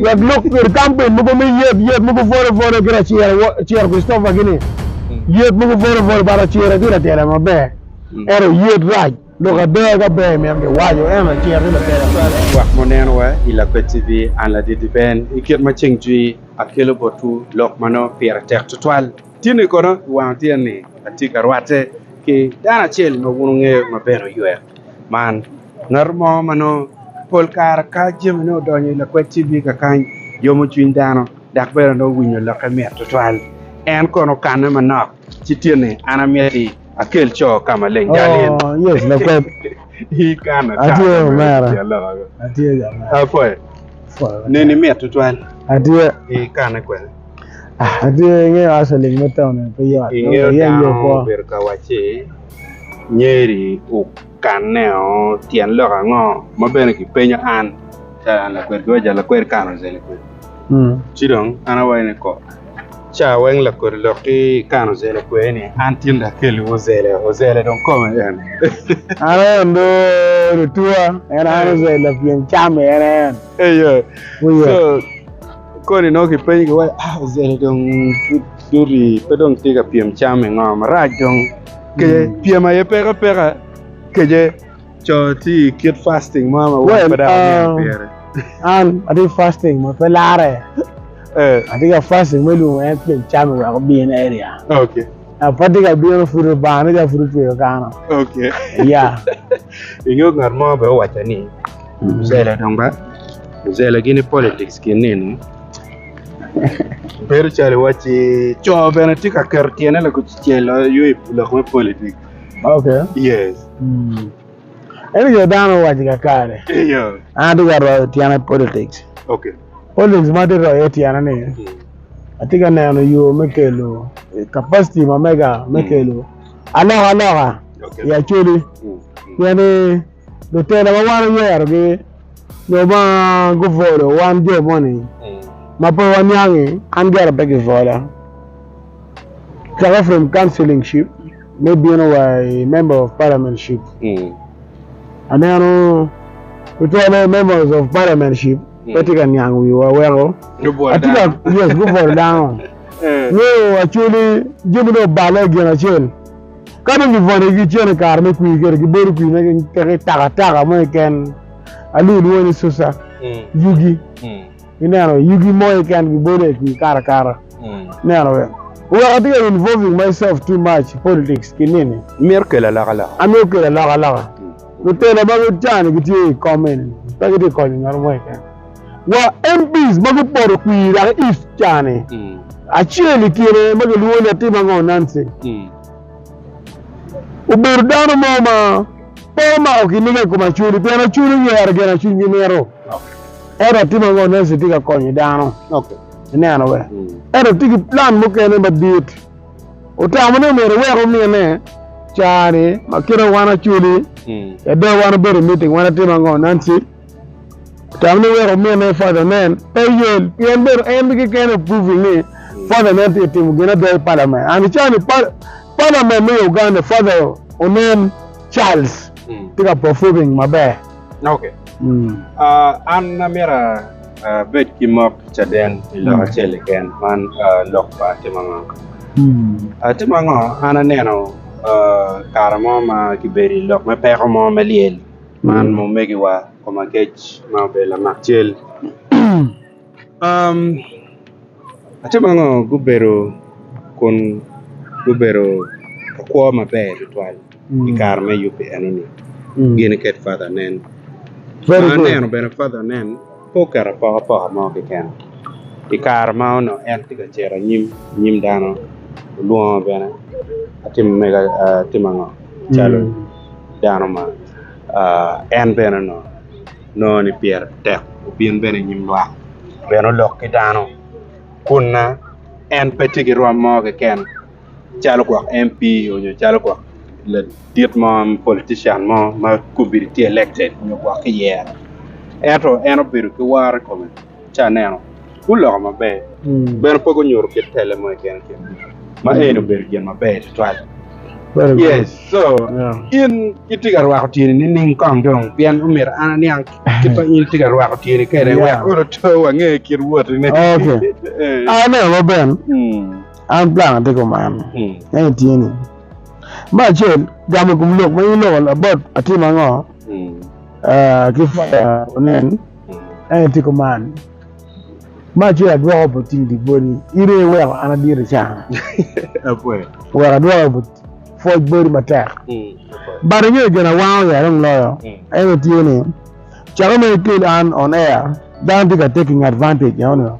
Wek lok kwede kampen mogo me yet, yet mogo pore pore ki raciro, wa, Ciro Christopher gini, yet mogo pore pore ba raciro ti latela maber, ento yet rac, lok ada ka ber imito gi waco, ento raciro ti latela maber. Lwak mo neno wa i Lakwed TV, an Ladidi Ben. I kit ma ceng jwi, akelo botwu lok ma nongo pire tek tutwal. Tinni kono i wang otyeni, atye ka rwatte ki dano acel ma wun wungeyo ma bene oywek. Man, ngat mo ma nongo pol kare ka jamine odonyo i lakwed TV kakany yomo cwiny dano dok bene nongo winyo lokke mit tutwal. En kono okanne manok ci tye ni, An amiti akel co ka maleng jalil. Oh, yes, lakwed. Ikano Atye kare me omera. tic aloka go. Atye jo ma. Apoyo, Pol wacce. neni mit tutwal. Atye. Ikane kwene. Ah, atye ingeyo asaling me taun-ni pe yot. Ingeyo Nongo iye dano yo kwo. obedo ka wacci Nyeri okaneo tyen lok ango ma bene ki penyo an calo an lakwed ki wa jalo lakwed kare oze lakwed ci dong an awaco ni ko ca weng lakodi lok ki kare oze lakwed ni an tin dong akeli wu ozele ozele dong kome en an en do lutuwa en an oze lapyen cam en en eyo so Koni nongo kipenyo ki wai ah ozele dong pud duti pe dong tye ka pyem cam i ngo marac dong kece mm. pyem aye peke peke kece co ti kit fasting mo ma well, pe dako uh, pire an ati fasting ma pe lare eh. ati ka fasting me lungo en pyem cam i weko bin area okay apa ti ka bino pud obane ja pud otweyo kano okay ya yeah. ingeyo ngat mo be owaco ni Muzele dong ba. Muzele gini politics gin nini. Bedo calo iwacci co bene tye ka keto tyene lakucel aye i lok me politics. Okay. Yes. Eno jo dano owaco kakare. Iyo. An atye ka royo tyena i politics. Okay. Politics ma atye ka royo iye tyena ni atye ka neno yo me kelo capacity ma mega me kelo alokaloka i Acholi. Pien ni lutela ma wan oyerogi nyo ma gubolo wan jo moni ma pe waniangi an gire pe gibola caka from counseling ship me bino wa i member of parliament ship aneno tutwale members of parliament ship pe tye ka niang wiwa weko atye ka yes gubolo dano nyo acoli jami dong obale gin acel Ka dong gibwone gicito i kare me kwir kede gibolo kwir ma kipeko i takataka mo keken, alwongo lwongo ni susa, yugi, ineno, yugi mo keken gibolo i kwir kato akata, ineno be. Wek atye ka involving myself too much i politics ki nini. Imito kelo alokaloka? Amito kelo alokaloka. Lutela ma ca-ni gitye i kom eni pe gitye ka konyo ngat mo keken. wa MPs ma gupoto kwir Iraka East cani, acel i kine ma gilwongo ni Atim Ango Nancy, obedo dano mo ma pe omako kiniga i kom Acholi pien Acholi oyero gin ma cwinygi mito. Ento Atim Ango Nancy tye ka konyo dano. Ineno be? Ento tye ki plan mukene madit. Otamo ni myero ewek omine caa-ni ma kit ma wan Acholi, Edo wan obedo i meeting, wan Atim Ango Nancy, Tamne wek omine Father Nen pe yel pien bedo en bene keken o proving ni Father Nen tye timo gin ada i Parliament and icawa ni Parliament me Uganda Father Onen Charles tye ka performing maber. Ok an amyero abed ki mot ki caden i lok acel keken man lok pa timo ango? Atimo ango an aneno kare mo ma kibedo i lok me peko mo me lyel. Man omegiwa koma kec ma obedo lamak cal atye ma ngo gubedo kun gubedo ki kwo maber tutwal i kare me yubbe eno ni gin iket father nen ma aneno bene father nen Pe oketo apokapoka mo keken. I kare ma onongo en tye ka cito anyim i nyim dano, olwongo bene atimo mega atimo ango calo dano ma en bene onongo nongo ni pire tek obin bene i nyim lwak bene olok ki dano kunna en pe tye ki rwom mo keken. calo gwok MP nyo calo gwok ladit mo politician mo ma obedo tye elected nyo gwok kiyero ento en obedo ki woro i kome ci aneno guloko maber bene pe gunyuto kit tele mo keken keken ma eni obedo gin maber tutwal yes so in itye ka rwako tyeni nining kong dong pien omyero an aniang kit ma in itye ka rwako tyeni kwede wek onongo oto wange kit wotine. Aneno ma ben An plan atiko man en i tye ni, me acel gamo ikom lok ma in loko about atim ango ki fire onen en i tiko man, me acel adwoko about cing di bodi in aye iweko an adiri can wek adwoko about pwoc bodi matek but ingeyo gin awango ya dong loyo en i tye ni cako mere ikel an on air dano tye ka taking advantage eno nio.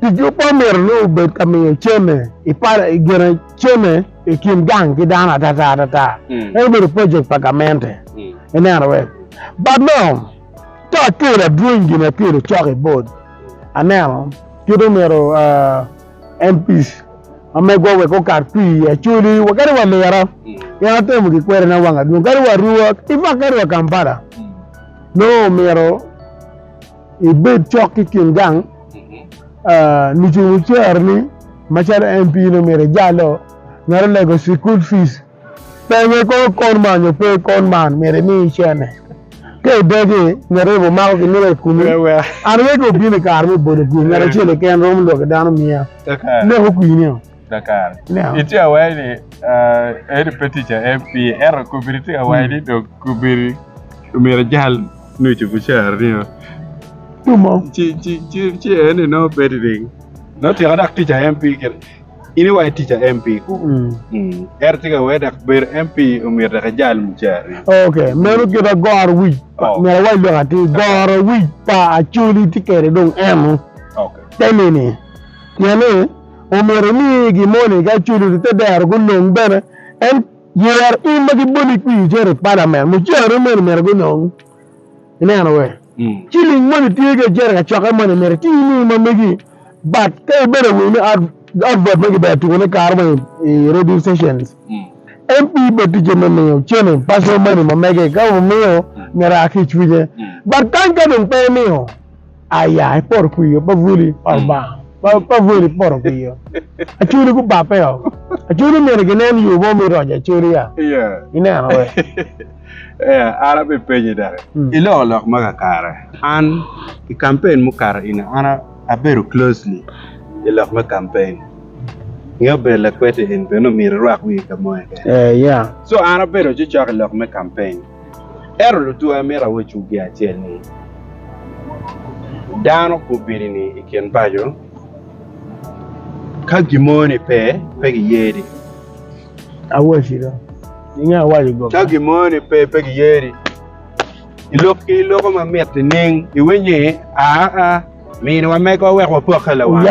Tic yubbe omyero nongo obed ka miyo cene i pala i gene cene i kin gang ki dano atata atata. Mm. En obedo project pa gamente. Mm. Ineno we? But no, ka akelo adwony gin akelo cok i board. Aneno kit omyero uh, MPs mamegwa wek okat pi i Acholi wa kadi wa Lira. Mm. Gin atemo gi kwede na wang adwong kadi wa Arua, in fact kadi wa Kampala. Mm. No omyero ibed cok ki kin gang lucung oceroni macalo MP nongo myero ijalo ngat olego cukul fees penye kong kon man nyo pe kon man myero imi cene ka idegi ngat aye bo mako gin wek ekumi an aye ka obino ikare me bolo kwir ngat acel keken romo lwaki dano miya leko kwir nio. kakare. Itye awai ni eni pe tic a MP, ento kobiri tye awai ni dong kobiri omyero ijal nucu bucar nio. Ci eni nongo bedi ni nongo tyeko dok tic a MP kit in iwaco tic a MP ku ento tye ka wai dok bedo MP omyero dok ijal mucar nio. Ok, meno kite goro wic pa, myero awai lok atir, goro wic pa Acholi tye kede dong eno te nini pien ni. omyero imigi moni ka culu ite dero gunong bene en yer in ma giboli kwi iter i palamen mucere moni myero gunong ineno we ciling moni tye ki icere ka cokke moni myero iti imigi ma migi but ka ibedo awiny ni out vote ma gibedo tuko ne kare mo i radio stations MP bene ticce me miyo cene personal money ma mege ka omiyo myero aa ki icwinye but kany ka dong pe imiyo Aya i poto kwiyo pa buli pa Lubanga. Pa pa buli poto kwiyo. Acholi gubabbe o. Acholi myero ginen yo mo me ronya acholi ya. Yeah. Ineno we. yeah, an abe penyi daki. Mm. Iloko lok ma kakare. An i campaign mukato ina an abedo closely i lok me campaign. Nge obedo lakwete en bene omyero irwak wii ka mo keken. Eh, yeah. So an abedo cocok i lok me campaign. Ento lutwe amito awecwu gin acel ni, dano gubidi-ni i kin paco ka gin mo ni pe, pe giyedi. Ka gin mo ni pe, pe giyedi. I lok ki loko ma mit nining? Iwinyo ni, aa, miniwa mego wek wapokke lawa acel.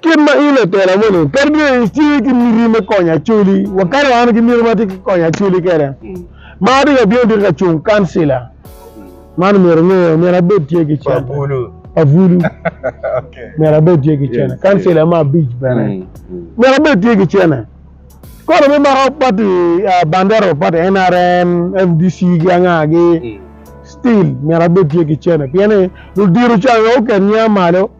Kit ma in latela moni kadi bed ni itye ki miti me konyo Acholi, wa kadi wan ki miti ma watye ki konyo Acholi kwede, ma atye ka bino dito ka cung kancila, man omyero inge, omyero abed tye ki cene. Pabulu. Pabulu. Omyero abed tye ki cene. Kancila me abic bene. Omyero abed tye ki cene. Kono me mako pati bandero, pati NRM, FDC ki angagi, still myero abed tye ki cene. Pien ni ludiro can aye oket niya malo.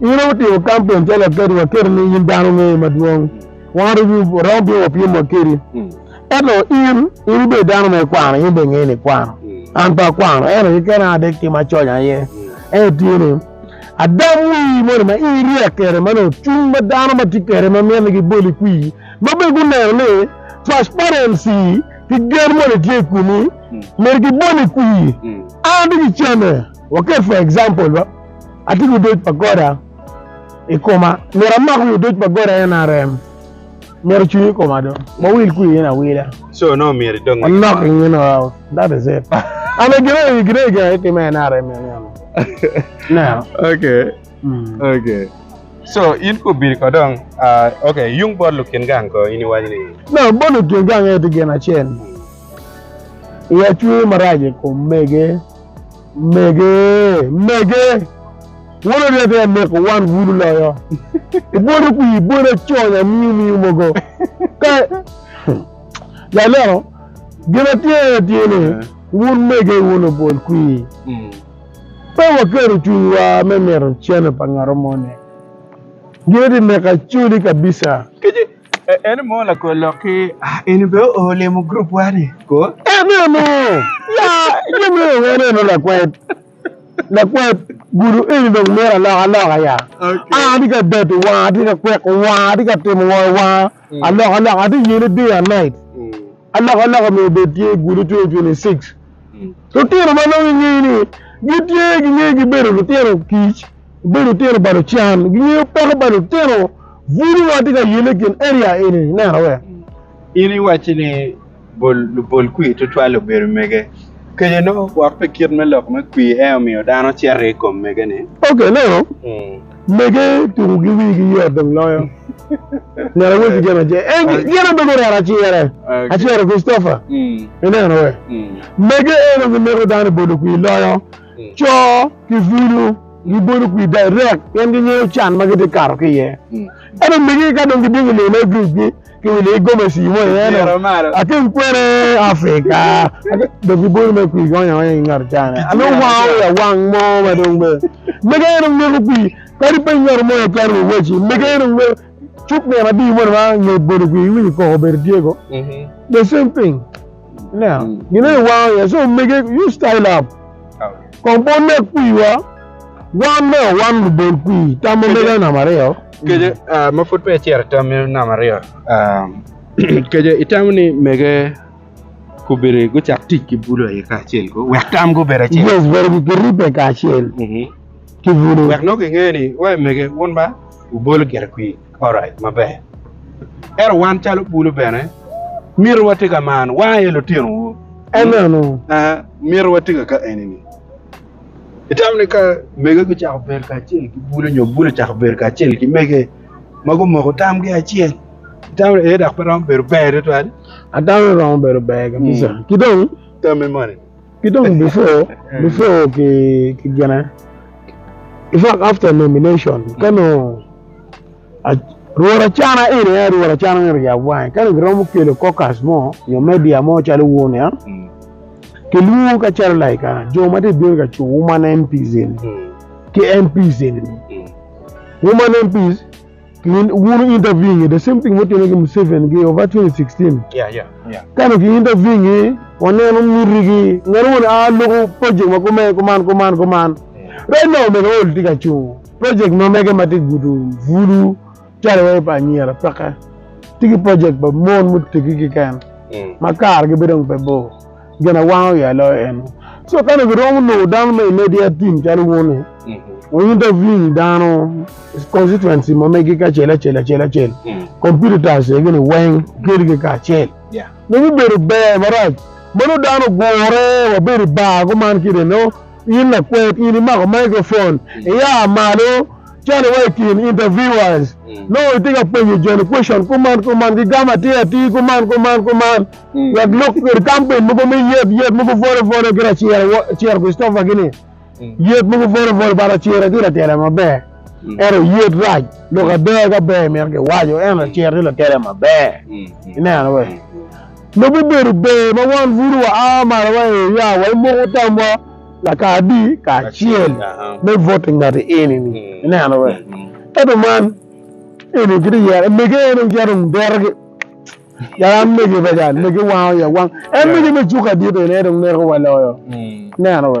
In aye wutimo kampen calo aketo wa keri ni in dano me madwong. Wan romo bino wapyem wa keri. Ento in, in ibedo dano ma ikwano, in be ingeyo ni ikwano. An pe akwano, ento keken an adek tim aconya aye. Ento tye ni, adam wii moni ma in iryek kede ma nongo cung ma dano ma tye kede ma miti ni giboli kwi, ma bene guneno ni transparency ki gen moni tye i kumi, miti giboli kwi. An ati ki camme. Waket for example ba atye ki odoc pa Goda i koma, myero amak wi odoc pa Goda nrm, myero ocung i koma do, wawil kwi in awila. So nongo myero idog ngec. Anok in in or out, that is it. Ane gin aye gin aye gin aye time nrm ni aneno. Now. Okay. Okay. So in ko obiri ko dong uh, okay yung bot lukin gang ko in iwaco ni. No bot lukin gang aye tye gin acel, i acwe marac i kom mege. Mege, mege, wun oryete aneko wan bulu loyo. Ibwodo kwi ibwodo acony amiyo miyo mogo. Ka ya ineno gin atye aye tye ni wun mege wun obwol kwi. Pe waketo cwinywa me mito cene pa ngatomo ni. Gin aye tye neka coli kabisa. Ene mo lakwor lok ki eni be oo limo group wa ni ko. Enene! Ya, jami dong enene lakwed. Lakwed, gudu eni dong myero alok aloka ya. Okay. An atye ka deto wanga, atye ka kweko wanga, atye ka timo ngo i wanga. Mm. Alok alok, atye ka yene day and night. Mm. Alok alok myero obed tye gudu 2026. Mm. Lutino ma nongo ingeyo ni gitye gingeyo gibedo lutino kic. Bedo lutino pa lucan gingeyo peko pa lutino bulu ma watye ka yelle i kin area eni-ni. Neno wek. In iwacci ni bol lubol kwir tutwal obedo mege. Keco no wok pi kit me lok me kwir en aye omiyo dano cito i kom mege-ni. Ok, neno, mege tukogi wigi yot dong loyo. Neno weci gin ace, en gin omege orero acere, acero Christopher. Ineno wek. Mege eno gimeko dano bolo kwir loyo. Co ki bulu gibolo kwir direct pien gingeyo can ma gitye ka kato ki iye. Ento omege ka dong gidwogo i lelo gicgi ki wile i gomesi mo iye ni atim kwene Africa dong gibolo mere kwir gionyo aonya ki ngat can ni ane owango wi awang mo ma dong be omege aye dong neko kwir kadi pe ngat mo aye kato wa waci omege aye dong neko cuk nino adi moni ma nge bolo kwir iwinyo koko obedo tye go the same thing. Now, mm. gine mm. iwango ye so omege you style up kong bon ne kwiwa wan me wan lubol kwi tam omega nam aryo keje uh, ma pud pe cer tam nam aryo um, keje itamo ni mege kubiri gucak tic ki bulo aye kacel ko wek tam gubere acel yes bere gikiripe kacel mm-hmm. ki bulo wek nongo gingeni wa mege wun ba ubolo gere kwi Alright, maber. Ento wan calo bulu bene mito wati ka man, wa aye lutinowu. Amen. Uh, mito wati ka ka enini. Itamo ni ka mege gucako bedo kacel ki bulu nyo bulu cako bedo kacel ki mege ma gumoko tamgi acel, itamo ni ee dok pe romo bedo ber tutwal? Atamo ni romo bedo ber kabisa. Ki dong Tami moni. Ki dong before before ki ki gine in fact after nomination ka nongo rwot acana eni aye rwot acana eni oyab wange ka nongo giromo kelo caucus mo nyo media mo calo wun ya kilwongo ka calo like ah, jo ma tye bino ka cu wuman MPs eni ki MPs eni wuman MPs Min wunu interviewing e the same thing mutime ki Museveni ki over 2016. Yeah, yeah, yeah. Kane ki interviewing e, waneno miti ki ngene wun a loko project ma kume kuman kuman kuman. Right now omege old tye ka cungo project ma mege ma tye gudo bulu calo wai pa anyira peke. Tye ki project pa mon mutegi keken ma kargi bedo dong pe bor. gin awango ya loyo en so kane giromo nongo dano me immediate team calo wun ni we intervene dano constituency ma megi kacel acel acel acel competitors gini weng kelgi kacel Yeah. ne bibedo ber marac ma nongo dano ogure wabedo i bar kuman kideno in lakwet in imako mic phone iya malo Calo wa i kin interviewers, nongo itye ka penyo joni question kuman kuman, gigamo atir atir kuman kuman kuman, wek lok kwede kampen mogo me yet, yet mogo vole vole ki Racira, wa, Racira Christopher kini, yet mogo vole vole, ba Racira tye latela maber, ento yet rac, lok ada ka ber myero kiwaco, ento Racira tye latela maber, ineno be? Lobo obedo ber ma wan buto wa a malo wa i area wa, imoko tam wa, Lakadi kacel me vote i ngati eni ni. Ineno be? Ento man eni kiti yero emege en dong cito derogi. Yar an mege pa jan mege wango ya wang. En mege me cuka dit eni en dong neko wa loyo. Ineno be?